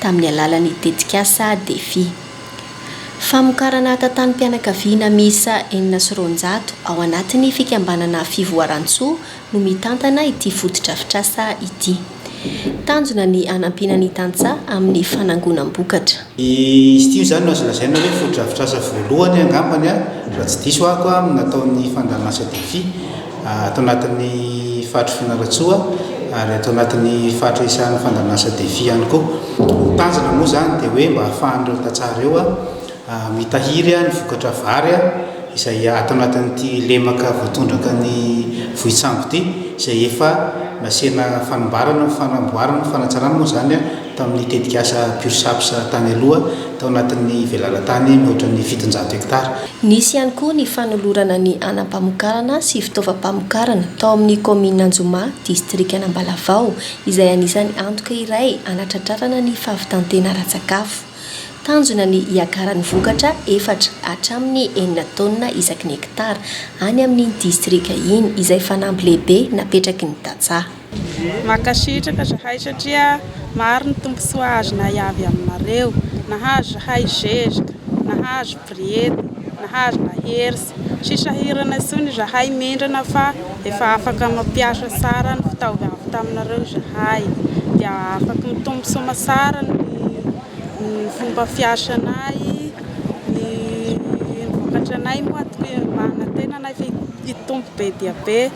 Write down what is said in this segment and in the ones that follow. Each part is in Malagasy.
tamin'ny alalan'ny tetikasa Defi. Famokarana atantanom-pianakaviana miisa enina sy roanjato ao anatin'ny fikambanana Fivoarantsoa no mitantana ity fotodrafitrasa ity. Tanjona ny hanampiana ny tantsaha amin'ny fanangonam-bokatra. Izy ity izany no azo lazaina hoe fotodrafitrasa voalohany angambany, raha tsy diso aho, nataon'ny Fandàn'Asa Defi. ato anatin'ny faritry Fianarantsoa ary ato anatin'ny faritra isahan'ny fandanasa defi ihany koa. Ny tanjona moa izany dia hoe mba hahafahan'ireo tantsaha ireo mitahiry ny vokatra vary izay ato anatin'ity lemaka voatondraka ny vohitsango ity izay efa nasiana fanamboarana fanamboarana fanatsarana moa izany tamin'ny tetikasa PureSaps tany aloha tao anatin'ny velaran-tany mihoatra ny fitonjato hektara. Nisy ihany koa ny fanolorana ny anam-pamokarana sy fitaovam-pamokarana tao amin'ny kaominina Anjomà, distrikan'Ambalavao, izay anisan'ny antoka iray hanatratrarana ny fahavitan-tena ara-tsakafo. Tanjona ny hiakaran'ny vokatra efatra hatramin'ny enina taonina isaky ny hektara any amin'iny distrika iny, izay fanamby lehibe napetraky ny tantsaha. Mankasitraka zahay satria maro ny tombontsoa azonay avy aminareo, nahazo zahay zezika, nahazo briety, nahazo lahersa, tsy sahirana intsony izahay mendrana fa efa afaka mampiasa tsara ny fitaovy avy taminareo izahay dia afaky mitombo soma tsara ny ny fomba fiasanay, ny vokatranay moa tokia mba hanantenanay fa hitombo be dia be.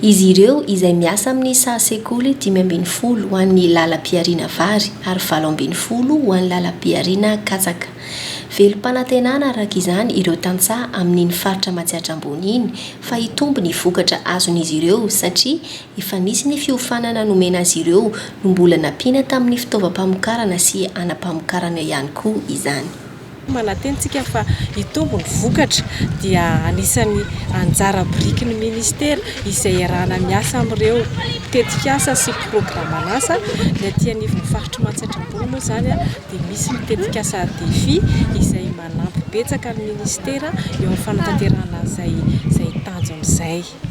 Izy ireo izay miasa amin'ny saha sekoly dimy ambin'ny folo ho an'ny lalam-pihariana vary ary valo ambin'ny folo ho an'ny lalam-pihariana katsaka. Velom-panantenana araka izany ireo tantsaha amin'iny faritra Matsiatra Ambony iny fa hitombo ny vokatra azon'izy ireo satria efa nisy ny fiofanana nomena azy ireo no mbola nampiana tamin'ny fitaovam-pamokarana sy hanam-pamokarana ihany koa izany. Manantena isika fa hitombo ny vokatra dia anisan'ny anjara biriky ny minisitera izay iarahana miasa amin'ireo tetikasa sy programan'asa. Ny aty anivon'ny faritr'i Matsiatra Ambony moa izany dia misy ny tetikasa Defi izay manampy betsaka ny minisitera eo amin'ny fanatanterahana an'izay tanjona izay.